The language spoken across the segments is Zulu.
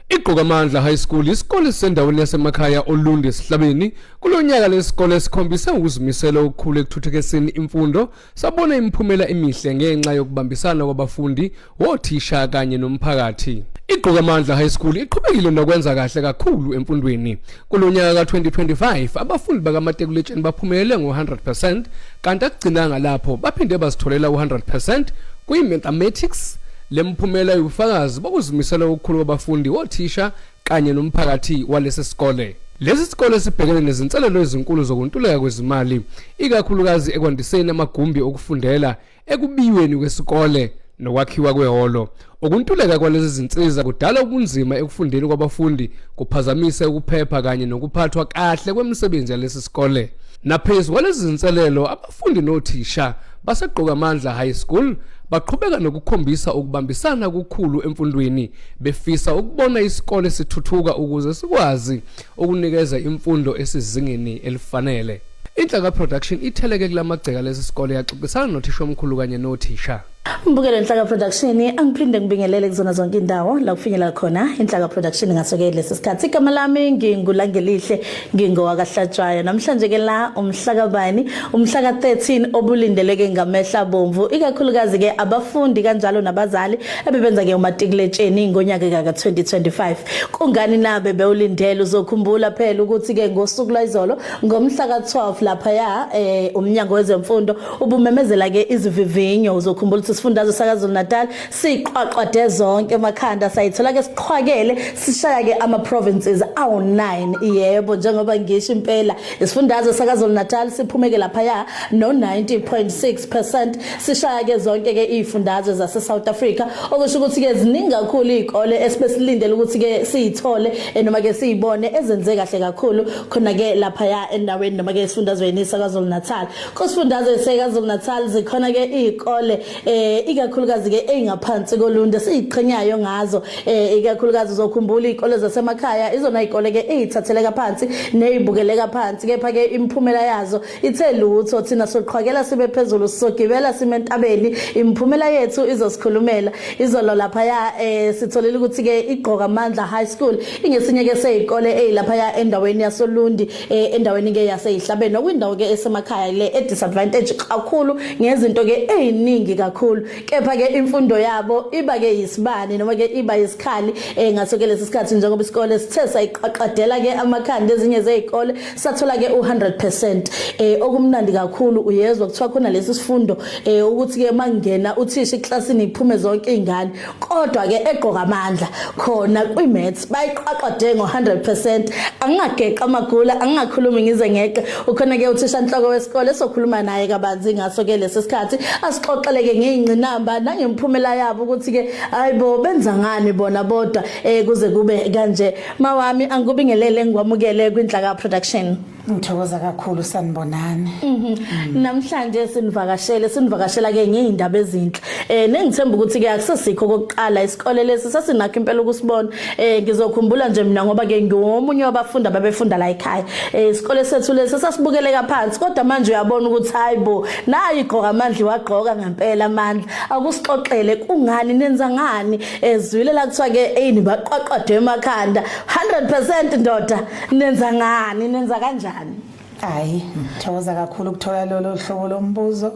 Igqokamandla High School isikole sendaweni yasemakhaya Olundi esihlabeni kulonyaka lesikole sikhombise ukuzimisela okukhulu ekuthuthukiseni imfundo sabona imiphumela emihle ngenxa yokubambisana kwabafundi wothisha kanye nomphakathi Igqokamandla High School iqhubekile nokwenza kahle kakhulu emfundweni. Kulonyaka ka2025 abafundi bakaMatekuletsheni baphumelele ngo100% kanti akugcinanga lapho baphinde bazitholela u100% kwiMathematics Le mphumela iwufakazi bokuzimisela okukhulu kwabafundi, othisha kanye nomphakathi walesi sikole. Lesi sikole sibhekene nezinselelo ezinkulu zokuntuleka kwezimali, ikakhulukazi ekwandiseni amagumbi okufundela, ekubiyweni kwesikole nokwakhiwa kwehholo. Ukuntuleka kwalezi zinsiza kudala ubunzima ekufundeni kwabafundi, kuphazamise ukuphepha kanye nokuphathwa kahle kwemisebenzi yalesi sikole. Naphezu kwalezi zinselelo abafundi nothisha baseGqokamandla High School baqhubeka nokukhombisa ukubambisana kukhulu emfundweni befisa ukubona isikole sithuthuka ukuze sikwazi ukunikeza imfundo esizingeni elifanele. Inhlaka Production itheleke kulamagceka lesi sikole yaxoxisana nothisha omkhulu kanye nothisha. Mbukelo Nhlaka Production angiphinde ngibingelele kuzona zonke indawo la kufinyelela khona Inhlaka Production ngasoke lesi sikhathi igama lami ngingulangelihle ngingowakahlatshwayo namhlanje ke la umhlaka bani umhlaka 13 obulindeleke ngamehla bomvu ikakhulukazi ke abafundi kanjalo nabazali ebebenza ke umatikuletsheni ngonyaka ka 2025 kungani nabe bewulindele uzokhumbula phela ukuthi ke ngosuku lwayizolo ngomhlaka 12 lapha ya eh, umnyango wezemfundo Ubumemezela ke izivivinyo uzokhumbula ukuthi isifundazwe sakaZulu-Natal siqwaqwade zonke emakhanda sayithola ke siqhwakele sishaya ke ama provinces awu9 yebo njengoba ngisho impela isifundazwe sakaZulu-Natal siphumeke lapha ya no 90.6% sishaya ke zonke ke izifundazwe zase South Africa okusho ukuthi ke ziningi kakhulu izikole esibesilindele ukuthi ke siyithole eh, noma ke siyibone ezenze kahle kakhulu khona ke lapha ya endaweni noma ke esifundazweni sakaZulu-Natal Kusifundazwe sekaZulu-Natal zikhona ke izikole eh ikakhulukazi ke ezingaphansi koluntu siziqhenyayo ngazo eh ikakhulukazi uzokhumbula izikole zasemakhaya izona izikole ke ezithatheleka phansi nezibukeleka phansi kepha ke imiphumela yazo ithe lutho thina soqhwakela sibe phezulu sisogibela sime entabeni imiphumela yethu izosikhulumela izolo lapha ya eh sitholile ukuthi ke igqoka amandla high school ingesinye ke sezikole ezilapha ya endaweni yasoLundi eh, endaweni ke yaseyihlabeni okwindawo ke esemakhaya le e disadvantage kakhulu ngezinto ke eziningi kakhulu kepha ke imfundo yabo iba ke yisibani noma ke iba isikhali eh, ngaso ke lesi sikhathi njengoba isikole sithe sayiqaqadela ke amakhanda ezinye zezikole sathola ke u100% eh okumnandi kakhulu uyezwa kuthiwa khona lesi sifundo eh ukuthi ke mangena uthisha eklasini iphume zonke izingane kodwa ke egqoka amandla khona kwiMets bayiqwaqwade ngo100% angingageqa amagula angingakhulumi ngize ngeqe ukhona ke uthisha inhloko wesikole sokhuluma naye kabanzi ngaso ke lesi sikhathi asixoxeleke ngeinqinamba nangemphumela yabo ukuthi ke hayibo benza ngani bona bodwa eh kuze kube kanje mawami angikubingelele ngikwamukele kwinhlaka production Ngithokoza kakhulu sanibonani. Mhm. Namhlanje sinivakashele, sinivakashela ke ngeindaba ezinhle. Eh nengithemba ukuthi ke akusesikho kokuqala isikole lesi sesinakho impela ukusibona. Eh ngizokhumbula nje mina ngoba ke ngiwomunye wabafundi ababefunda la ekhaya. Eh isikole sethu lesi sasibukeleka phansi kodwa manje uyabona ukuthi hayibo nayi igqoka amandla wagqoka ngempela amandla. Akusixoxele kungani nenza ngani ezwile la kuthiwa ke eyini baqwaqwadwe emakhanda. 100% ndoda nenza ngani nenza kanjani hayi thokoza kakhulu ukuthola lolo hlobo lombuzo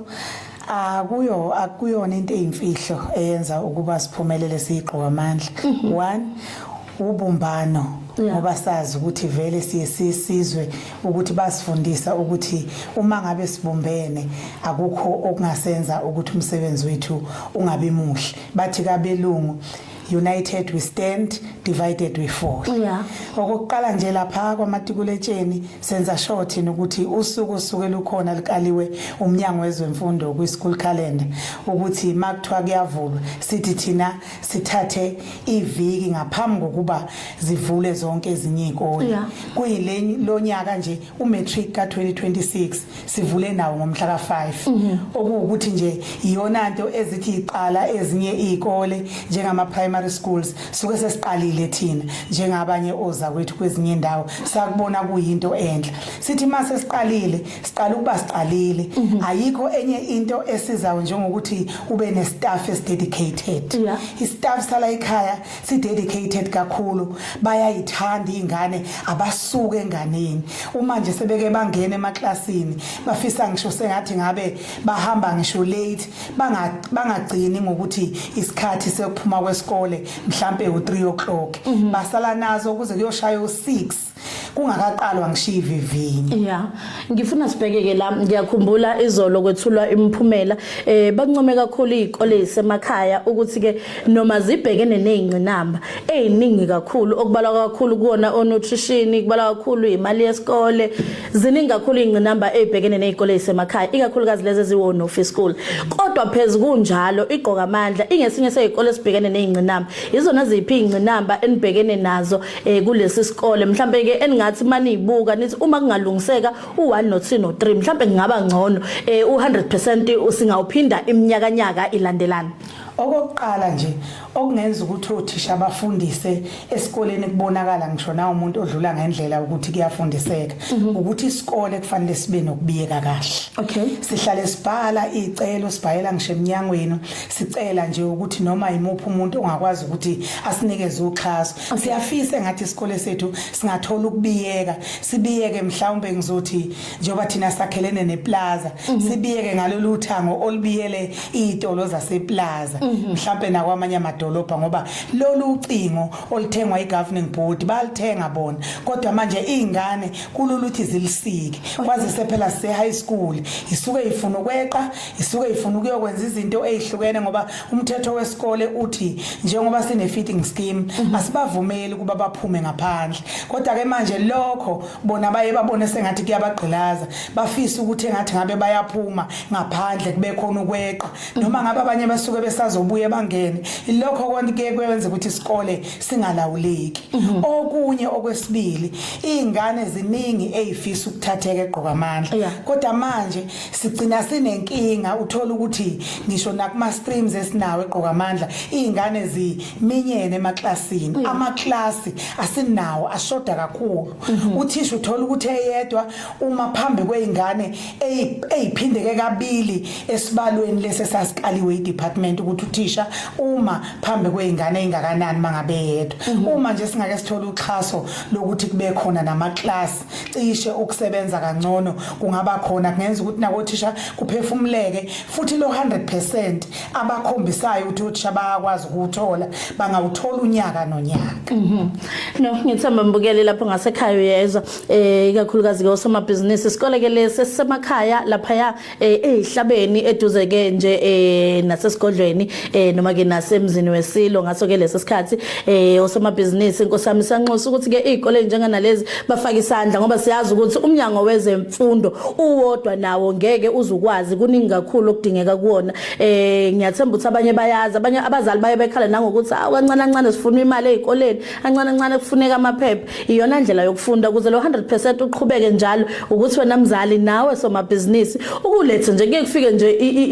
akuyo akuyona into eyimfihlo eyenza ukuba siphumelele siyigqoka amandla mhm. one ubumbano ngoba sazi ukuthi vele siye sisizwe ukuthi basifundisa ukuthi uma ngabe sibumbene akukho okungasenza ukuthi umsebenzi wethu ungabi muhle bathi kabelungu united we stand divided we fall yeah. okokuqala nje lapha kwamatikuletsheni senza sure thina ukuthi usuku osuke lukhona likaliwe umnyango wezemfundo kwi-school calendar ukuthi ma kuthiwa kuyavulwa sithi thina sithathe iviki ngaphambi kokuba zivule zonke ezinye iy'kole yeah. kuyilo nyaka nje umatric ka-2026 sivule nawo ngomhla ka-5 mhm. okuwukuthi nje iyona nto ezithi iqala ezinye iy'kole njengama-primary schools suke sesiqalile thina njengabanye oza kwethu kwezinye indawo sakubona kuyinto enhle sithi uma sesiqalile siqala ukuba siqalile mhm. ayikho enye into esizayo njengokuthi ube ne-staff esidedicated i-staff sala ekhaya si dedicated kakhulu bayayithanda izingane abasuke enganeni uma nje sebeke bangena emaklasini bafisa ngisho sengathi ngabe bahamba ngisho late bangagcini ngokuthi isikhathi sekuphuma kwesikole mhlambe u3 o'clock mhm. basala nazo ukuze kuyoshaya u6 kungakaqalwa ngishiya ivivinyo yeah ngifuna sibheke ke la ngiyakhumbula izolo kwethulwa imiphumela eh bancome kakhulu izikole zisemakhaya ukuthi ke noma zibhekene nezingcinamba eziningi kakhulu okubalwa kakhulu kuona onutrition kubalwa kakhulu imali yesikole ziningi kakhulu izingcinamba ezibhekene nezikole zisemakhaya ikakhulukazi lezi eziwona office school kodwa phezulu kunjalo igqoka amandla ingesinye sezikole esibhekene nezingcinamba izona ziphi izingcinamba enibhekene nazo eh kulesi sikole mhlambe ke eningathi maniyibuka nithi uma kungalungiseka u1 no 2 no 3 mhlambe ngingaba ngcono eh u100% usingawuphinda iminyaka nyaka ilandelana okokuqala nje okungenza ukuthi othisha abafundise esikoleni kubonakala ngisho na umuntu odlula ngendlela ukuthi kuyafundiseka mhm. ukuthi isikole kufanele sibe nokubiyeka kahle okay sihlale sibhala icelo sibhayela ngisho eminyangweni sicela nje ukuthi noma imuphi umuntu ongakwazi ukuthi asinikeze uxhaso Siyafisa ngathi isikole sethu singathola ukubiyeka sibiyeke mhlawumbe ngizothi njengoba thina sakhelene neplaza mm -hmm. sibiyeke ngalolu thango olubiyele izitolo zaseplaza mm -hmm. mhlawumbe nakwamanye amadolobha ngoba lolu ucingo oluthengwa igoverning board balithenga bona kodwa manje izingane kululuthi zilisike okay. kwazise phela sise high school isuke ifuna ukweqa isuke ifuna ukuyokwenza izinto ezihlukene ngoba umthetho wesikole uthi njengoba sine feeding scheme mhm. asibavumeli kuba baphume ngaphandle kodwa ke manje lokho bona baye babone sengathi kuyabagqilaza bafisa ukuthi engathi ngabe bayaphuma ngaphandle kube khona ukweqa mhm. noma ngabe abanye basuke besazobuye bangene ilokho konke kwenza ukuthi isikole singalawuleki mhm. okunye okwesibili izingane ziningi ezifisa ukuthatheka egqoka amandla kodwa manje sigcina sinenkinga uthola ukuthi ngisho nakuma streams esinawo egqoka amandla izingane ziminyene emaklasini mm. amaklasi asinawo ashoda kakhulu mhm. uthisha uthola ukuthi eyedwa uma phambi kweingane eziphindeke kabili esibalweni lese sasikaliwe idepartment ukuthi uthisha uma phambi kweingane ezingakanani mangabe yedwa mhm. uma nje singake sithola uxhaso lokuthi kube khona namaklasi cishe ukusebenza kangcono kungaba khona kungenza ukuthi nakothisha kuphefumuleke futhi lo 100% abakhombisayo ukuthi othisha bayakwazi ukuthola bangawuthola unyaka nonyaka mhm no ngithemba mbukeli lapho ngasekhaya uyezwa eh ikakhulukazi ke osomabhizinisi isikole ke lesi sisemakhaya lapha ya eh ezihlabeni eduze ke nje eh nasesigodlweni eh noma ke nasemzini wesilo ngaso ke lesi sikhathi eh osomabhizinisi inkosami sanxusa ukuthi ke izikole njenganalezi bafake isandla ngoba siyazi ukuthi umnyango wezemfundo uwodwa nawo ngeke uzukwazi kuningi kakhulu okudingeka kuona eh ngiyathemba ukuthi abanye bayazi abanye abazali baye bekhala nangokuthi awu kancane kancane sifuna imali ezikoleni kancane kancane kufuneka amaphepha Iyona ndlela yokufunda ukuze lo 100% uqhubeke njalo ukuthi wena mzali nawe somabhizinisi ukulethe nje kuye kufike nje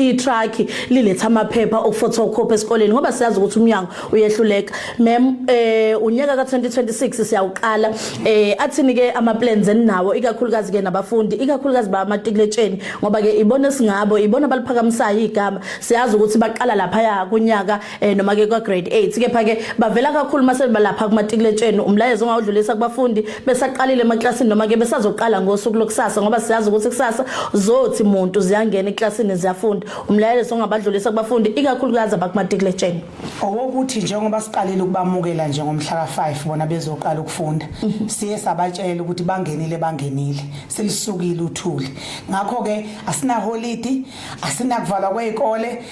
i-truck liletha amaphepha okufotocopy esikoleni ngoba siyazi ukuthi umnyango uyehluleka mem eh unyaka ka2026 siyawuqala eh athini ke ama plans eninawo ikakhulukazi ke nabafundi ikakhulukazi ba matikletsheni ngoba ke ibona singabo ibona baliphakamisayo igama siyazi ukuthi baqala lapha ya kunyaka eh noma ke kwa grade 8 kepha ke bavela kakhulu mase balapha kumatikuletsheni umlayezo ongawudlulisa kubafundi besaqalile emaklasini noma ke besazoqala ngosuku lokusasa ngoba siyazi ukuthi kusasa zothi muntu ziyangena eklasini ziyafunda umlayezo ongabadlulisa kubafundi ikakhulukazi abakumatikuletsheni owokuthi njengoba siqalile ukubamukela nje ngomhla ka5 bona bezoqala ukufunda mhm. siye sabatshela ukuthi bangenile bangenile selisukile uthuli ngakho ke asina holiday asinakuvalwa kwey'kole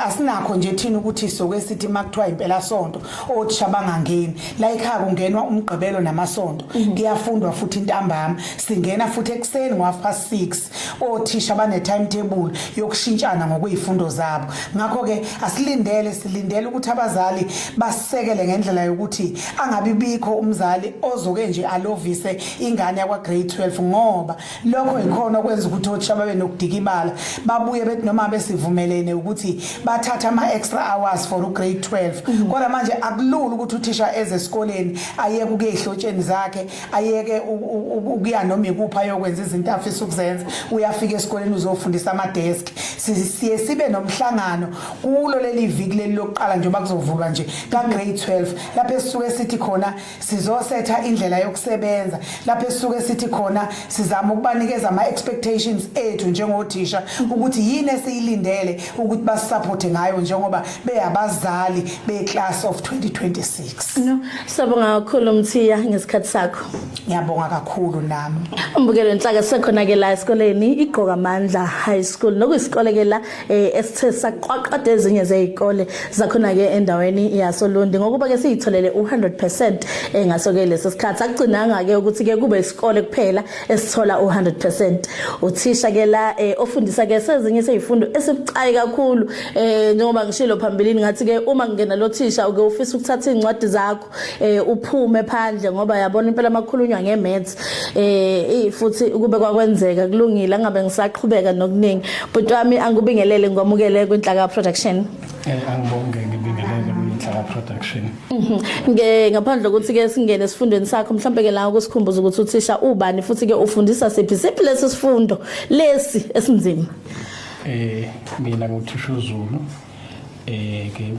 asinakho nje thina ukuthi soke sithi uma kuthiwa impelasonto othisha bangangeni la ekhaya kungenwa umgqibelo namasonto mhm. kuyafundwa futhi intambama singena futhi ekuseni ngo-half past six othisha bane-timetable yokushintshana ngokuy'fundo zabo ngakho-ke asilindele silindele ukuthi abazali basisekele ngendlela yokuthi angabi bikho umzali ozoke nje alovise ingane yakwa-grade 12 ngoba Lokho yikhona okwenza ukuthi othisha babe nokudikibala babuye bethi noma besivumelene ukuthi bathatha ama-extra hours for ugrade 12 mhm. kodwa manje akulula ukuthi uthisha eze esikoleni ayeke ukuya ehlotsheni zakhe ayeke ukuya noma ikuphi ayokwenza izinto afisa ukuzenza uyafika esikoleni uzofundisa amadeski siye sibe nomhlangano kulo leli viki leli lokuqala njengoba kuzovulwa nje kagrade 12 lapho esisuke sithi khona sizosetha indlela yokusebenza lapho esisuke sithi khona sizama ukubanikeza ama expectations ethu njengothisha ukuthi yini esiyilindele ukuthi basisupport ngayo njengoba beyabazali be class of 2026 no sabonga kakhulu mthiya ngesikhathi sakho ngiyabonga kakhulu nami umbukelo inhlaka sekhona ke la esikoleni igqoka amandla high school nokuyisikole ke la eh esithe saqwaqada ezinye zezikole zakhona ke endaweni yasoLundi ngokuba ke siyitholele u100% eh ngaso ke lesi sikhathi akugcinanga ke ukuthi ke kube isikole kuphela esithola u100% uthisha ke la eh, ofundisa ke sezinye sezifundo esibucayi kakhulu eh njengoba ngishilo phambilini ngathi ke uma ngingena lo thisha uke ufisa ukuthatha izincwadi zakho eh uphume phandle ngoba yabona impela makhulunywa ngemaths eh futhi kube kwakwenzeka kulungile angabe ngisaqhubeka nokuningi bhuti wami angikubingelele ngomukele kwinhlaka production eh angibonge ngibingelele kwinhlaka production mhm. nge ngaphandle ukuthi ke singene esifundweni sakho mhlawumbe ke la ukusikhumbuza ukuthi uthisha ubani futhi ke ufundisa siphi siphi lesi sifundo lesi esinzima eh mina nguthisha uZulu eh ke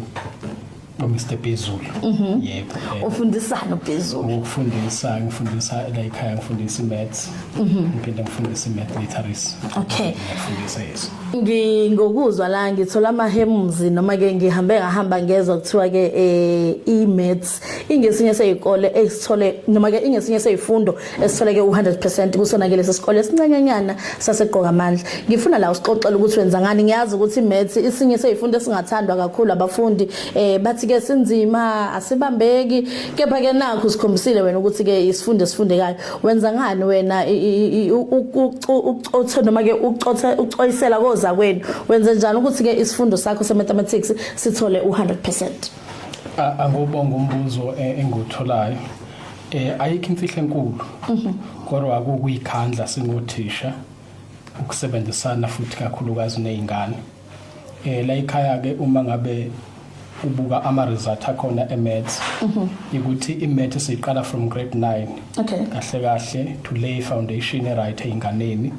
no Mr Bezulu mhm. yebo eh. ufundisana uBezulu ukufundisa ngifundisa la ekhaya ngifundisa imaths mhm. ngiphinde ngifundise imath literacy okay ngifundisa yeso ngingokuzwa la ngithola amahemzi noma ke ngihambe ngahamba ngezwa kuthiwa ke eh, imaths ingesinye seyikole esithole noma ke ingesinye seyifundo esitholeke u-100 percent kusona-ke lesi sikole esincanyanyana sasegqoka amandla ngifuna la usixoxela ukuthi wenza ngani ngiyazi ukuthi maths isinye seyifundo esingathandwa kakhulu abafundi um bathi-ke sinzima asibambeki kepha-ke nakho sikhombisile wena ukuthi-ke isifundo esifundekayo wenza ngani wena ucothe noma-ke ucoyisela koza kwenu wenze njani ukuthi-ke isifundo sakho se-mathematics sithole u-100 percent angubonga umbuzo e-, engiwutholayo Eh ayikho imfihlo enkulu. Mhm. Kodwa akukuyikhandla singothisha ukusebenzisana futhi kakhulukazi nezingane. Eh la ikhaya ke uma ngabe ubuka ama results akhona eMaths mhm. ukuthi iMaths siqala from grade 9 okay kahle kahle to lay foundation right einganeni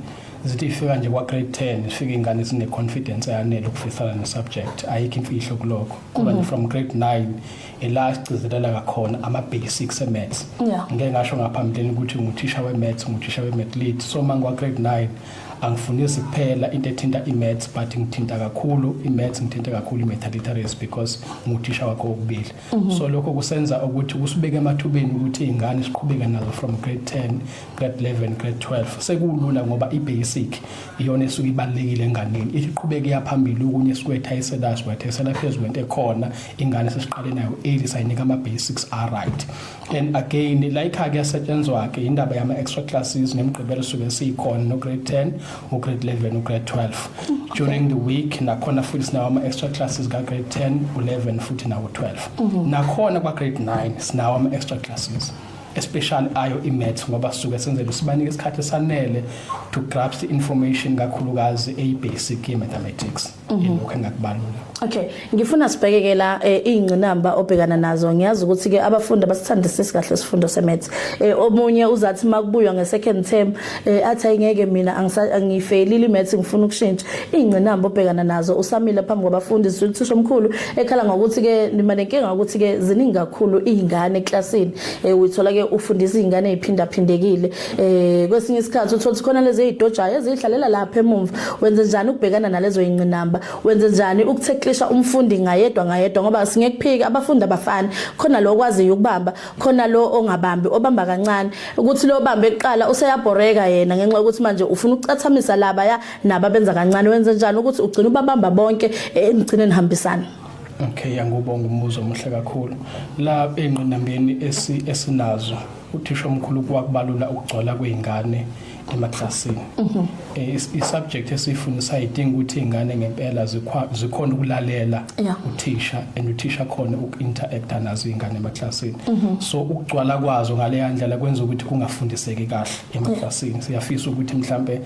zithi ifika nje kwa grade 10 ifika ingane zine confidence eyanele ukufisana ne subject ayikho imfihlo kuloko kuba mhm. from grade 9 ila sigcizelela ngakhona ama-basics e-maths yeah. ngike ngasho ngaphambilini ukuthi nguthisha we-maths nguthisha we-math lead so uma ngiwa-grade nine angifundisi kuphela into ethinta i-maths but ngithinta kakhulu i-maths ngithinta kakhulu i-math literacy because nguthisha wakho wokubili mm -hmm. so lokho kusenza ukuthi kusibeke emathubeni ukuthi iy'ngane siqhubeke nazo from grade ten grade eleven grade twelve sekulula ngoba i-basic iyona esuke ibalulekile enganeni ithi iqhubeke iyaphambili okunye sikwetha isedazi wethesela phezu kwento ekhona ingane sesiqale nayo eli sayinika ama-basics aright and again layikha-ke yasetshenzwa-ke indaba yama-extra classes nemigqibelo suke siyikhona no-grade ten ugrade eleven ugrade twelve during the week nakhona futhi sinawo ama-extra classes ka-grade ten u-eleven futhi nawo-twelve mhm. nakhona kwa-grade nine sinawo ama-extra classes especially ayo imaths ngoba sisuke senzele sibanike isikhathi esanele to grasp information kakhulukazi eyibasic yemathematics mhm. ilokho engakubalula okay ngifuna sibhekeke la eh, izingqinamba obhekana nazo ngiyazi ukuthi ke abafundi abasithandisisi kahle isifundo semaths eh, omunye uzathi makubuywa ngesecond term eh athi ayingeke mina angifelile imaths ngifuna ukushintsha ingcinamba obhekana nazo usamile phambi kwabafundi zithisha omkhulu ekhala ngokuthi ke nima nenkinga ukuthi ke ziningi kakhulu izingane eclassini eh uyithola ke ufundisa izingane eziphinda phindekile eh kwesinye isikhathi uthola khona lezi ezidojayo ezihlalela lapha emumva wenze njani ukubhekana nalezo ingcinamba wenze njani ukutheklisha umfundi ngayedwa ngayedwa ngoba singekuphika abafundi abafani khona lokwaziyo ukubamba khona lo ongabambi obamba kancane ukuthi lo bambe eqala useyabhoreka yena ngenxa yokuthi manje ufuna ukucathamisa laba ya naba benza kancane wenze njani ukuthi ugcine ubabamba bonke enigcine eh, nihambisana Okay yangubonga umbuzo omuhle kakhulu la engqinambeni esinazo uthisha omkhulu kwakubalula ukugcwala kweingane emaklasini mhm. eh, i-subject esiyifundisa idinga ukuthi iy'ngane ngempela zikhona ukulalela uthisha and uthisha khona uku-interacta nazo iy'ngane emaklasini mhm. so ukugcwala kwazo ngaleya ndlela kwenza ukuthi kungafundiseki kahle emaklasini siyafisa ukuthi mhlampe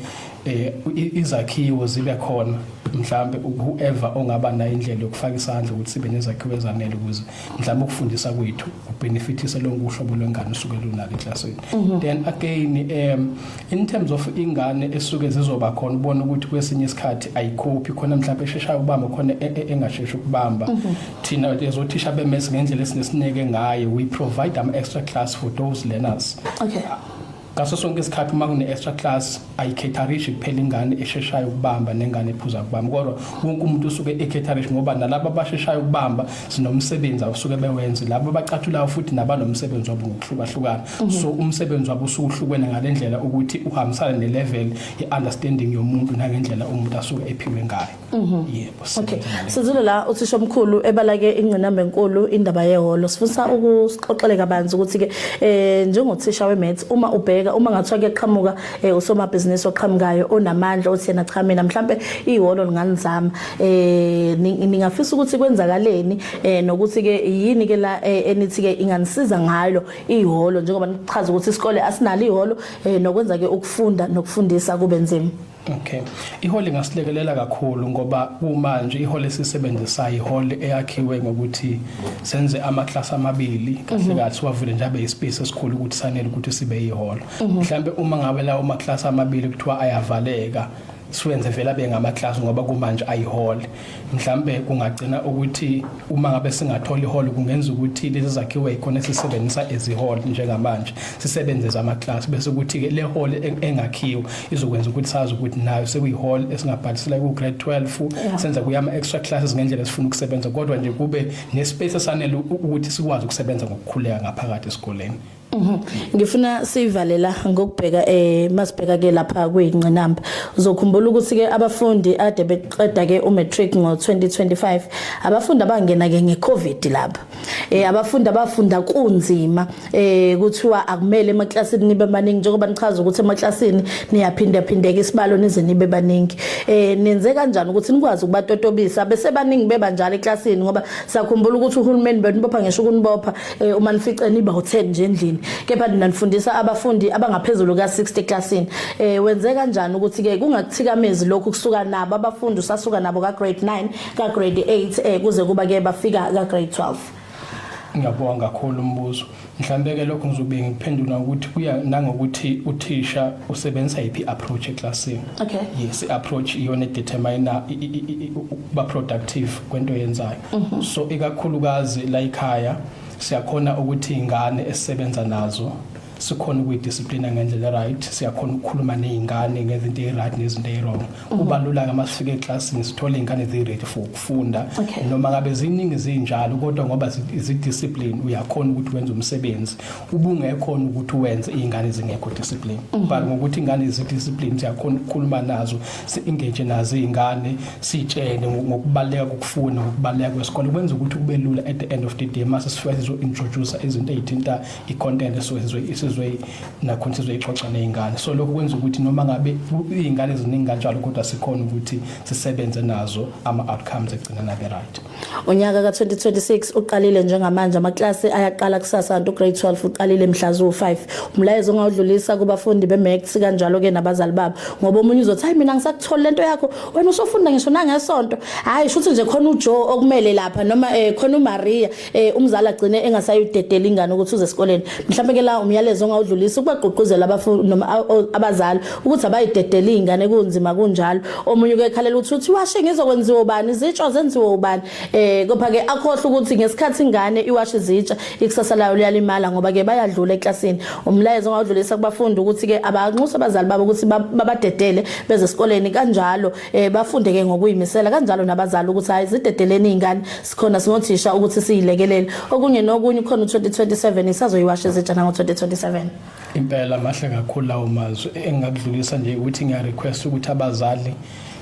eh, izakhiwo zibe khona mhlampe whoever ongaba nayo indlela yokufaka isandla ukuthi sibe nezakhiwo ezanele ukuze mhlawumbe ukufundisa kwethu kubenefithise lonke uhlobo lwengane usuke lunalo eklasini mhm. then again um in terms of ingane esuke zizoba khona ubona ukuthi kwesinye isikhathi ayikhophi khona mhlawumbe esheshayo ukubamba khona e, e, engasheshi ukubamba mhm. thina ezothisha bemesi ngendlela esinesineke ngayo we provide ama extra class for those learners okay Ngaso sonke isikhathi uma kune-extra class ayikhetharisi kuphela ingane esheshayo ukubamba nengane ephuza ukubamba kodwa wonke umuntu usuke ekhetharisi ngoba nalabo abasheshayo ukubamba sinomsebenzi awusuke bewenze labo abacathulayo futhi nabanomsebenzi wabo ngokuhlukahlukana mhm. so umsebenzi wabo usuke uhlukene ngale ndlela ukuthi uhambisane ne-level ye-understanding yomuntu nangendlela umuntu asuke ephiwe ngayo Mhm. Yebo. Okay. Sizilo la uthisha omkhulu ebalake ingcinamba enkulu indaba yeholo. Sifuna ukusixoxele kabanzi ukuthi ke eh njengothisha weMaths uma ubheka uma ngathiwa kuyaqhamuka eh, usomabhizinisi oqhamukayo onamandla othi yena cha mina mhlambe iholo linganizama. Eh ningafisa ukuthi kwenzakaleni eh nokuthi ke yini ke la eh, enithi ke inganisiza ngalo iholo njengoba nichaza ukuthi isikole asinalo iholo eh nokwenza ke ukufunda nokufundisa kube nzima. Okay. Ihole ngasilekelela kakhulu ngoba kumanje ihole sisebenzisayo ihole eyakhiwe ngokuthi senze ama class amabili kahle mhm. kahle wavule nje abe ispace esikhulu ukuthi sanele ukuthi sibe ihole. Mhm. Mhlambe uma ngabe lawo ma class amabili kuthiwa ayavaleka siwenze vela bengama class ngoba kumanje ayihole mhlambe kungagcina ukuthi uma ngabe singathola iholo kungenza ukuthi lezi zakhiwo ekhona sisebenzisa eziholo njengamanje sisebenze zama class bese ukuthi ke le hall e-, engakhiwa izokwenza ukuthi sazi ukuthi nayo sekuyihall esingabhalisela ku grade 12 senza kuyama extra classes ngendlela esifuna ukusebenza kodwa nje kube ne space esanele ukuthi sikwazi ukusebenza ngokukhuleka ngaphakathi esikoleni Mhm. Ngifuna sivalela ngokubheka eh masibheka ke lapha kuyinqinamba. Uzokhumbula ukuthi ke abafundi ade beqeda ke umatric ngo2025 abafundi abangena ke ngecovid lapha. Eh abafundi abafunda kunzima eh kuthiwa akumele emaklasini nibe baningi njengoba nichaza ukuthi emaklasini niyaphinda phindeka isibalo nize nibe baningi. Eh nenze kanjani ukuthi nikwazi ukubatotobisa bese baningi beba njalo eklasini ngoba sakhumbula ukuthi uhulumeni benibopha ngisho ukunibopha eh uma nifice niba u10 nje endlini kepha nina nifundisa abafundi abangaphezulu ka60 eclassini eh wenze kanjani ukuthi ke kungakuthikamezi lokhu kusuka nabo abafundi usasuka nabo ka grade 9 ka grade 8 eh kuze kuba ke bafika ka grade 12 ngiyabonga kakhulu umbuzo mhlambe ke lokho ngizobe ngiphendula ukuthi kuya nangokuthi uthisha usebenzisa iphi approach eclassini okay yes approach iyona determiner ba productive kwento yenzayo mhm. so ikakhulukazi la ikhaya siyakhona ukuthi ingane esisebenza nazo sikhona ukuyidisciplina ngendlela right siyakhona ukukhuluma nezingane ngezinto eziright nezinto ezirong mhm. kuba lula ngama sifike eclassini sithole izingane eziready for ukufunda noma ngabe ziningi zinjalo kodwa ngoba zidiscipline uyakhona ukuthi wenze umsebenzi ubungekhona ukuthi wenze izingane zingekho discipline mhm. but ngokuthi ingane zi discipline siyakhona ukukhuluma nazo si engage nazo izingane sitshene ngokubaleka kokufunda ngokubaleka kwesikole kwenza ukuthi kube lula at the end of the day mase sifike sizo introduce izinto ezithinta i content esizwe isizwe nakhona sizwe ixoxa nezingane so lokho kwenza ukuthi noma ngabe izingane ziningi kanjalo kodwa sikhona ukuthi sisebenze nazo ama outcomes egcina nabe right Unyaka ka-2026 uqalile njengamanje amaklasi ayaqala kusasa kanti ugrade 12 uqalile mhla ziwu-5 umlayezo ongawudlulisa kubafundi be-max kanjalo-ke nabazali babo ngoba omunye uzothi hayi mina ngisakutholi le nto yakho wena usofunda ngisho nangesonto hhayi shuthi nje khona ujoe okumele lapha noma um khona umariya um umzali agcine engasayidedela ingane ukuthi uze esikoleni mhlawumbe ke la umyalezo ongawudlulisa ukubagqugquzela noma abazali ukuthi abayidedele izingane kunzima kunjalo omunye uke ekhalela ukuthi uthi washe ngizokwenziwa ubani izitsho zenziwa ubani eh kodwa ke akhohle ukuthi ngesikhathi ingane iwashe izitsha ikusasa layo liyalimala ngoba ke bayadlula eklasini umlayezo ngawudlulisa kubafundi ukuthi ke abanxusa abazali babo ukuthi babadedele beze esikoleni kanjalo eh bafunde ke ngokuyimisela kanjalo nabazali ukuthi hayi zidedeleni izingane sikhona singothisha ukuthi siyilekelele okunye nokunye khona u2027 isazoyiwashe izitsha nango 2027 Impela mahle kakhulu lawo mazwi engingakudlulisa nje ukuthi ngiya request ukuthi abazali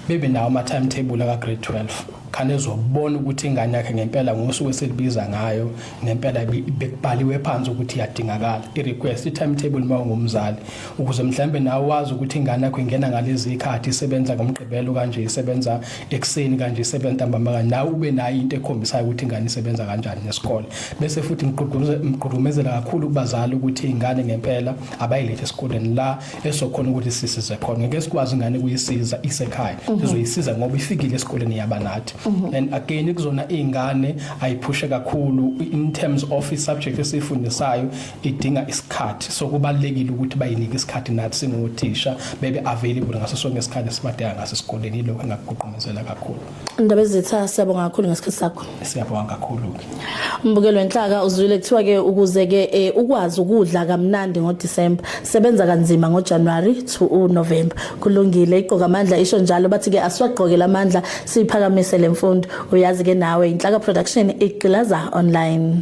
bebe nawo ama timetable aka grade 12 khane ezobona ukuthi ingane yakhe ngempela ngosuku eselibiza ngayo ngempela bekubhaliwe phansi ukuthi iyadingakala i request i timetable uma ungumzali ukuze mhlambe nawe wazi ukuthi ingane yakho ingena ngalezi ikhathi isebenza ngomgqibelo kanje isebenza ekuseni kanje sebenza ntambama kanje nawe ube nayo into ekhombisayo ukuthi ingane isebenza kanjani nesikole bese futhi ngigqugqumezela kakhulu kubazali ukuthi ingane ngempela abayilethe esikoleni la esokhona ukuthi sisize khona ngeke sikwazi ingane kuyisiza isekhaya mhm. sizoyisiza ngoba ifikile esikoleni yaba nathi mhm. and again kuzona izingane ayiphushe kakhulu in terms of i subject esifundisayo idinga isikhathi so kubalekile ukuthi bayinike isikhathi nathi singothisha bebe available ngaso sonke isikhathi sibadeka ngaso esikoleni lokho engakuqhumezela kakhulu indaba ezitha siyabonga kakhulu ngesikhathi sakho siyabonga kakhulu ke umbukelo wenhlaka uzwile kuthiwa ke ukuze ke eh, ukwazi ukudla kamnandi ngo December sebenza kanzima ngo January to u November kulungile iqoka amandla isho njalo bathi ke asiwagqokele amandla siphakamise lemfundo uyazi ke nawe inhlaka production igqilaza online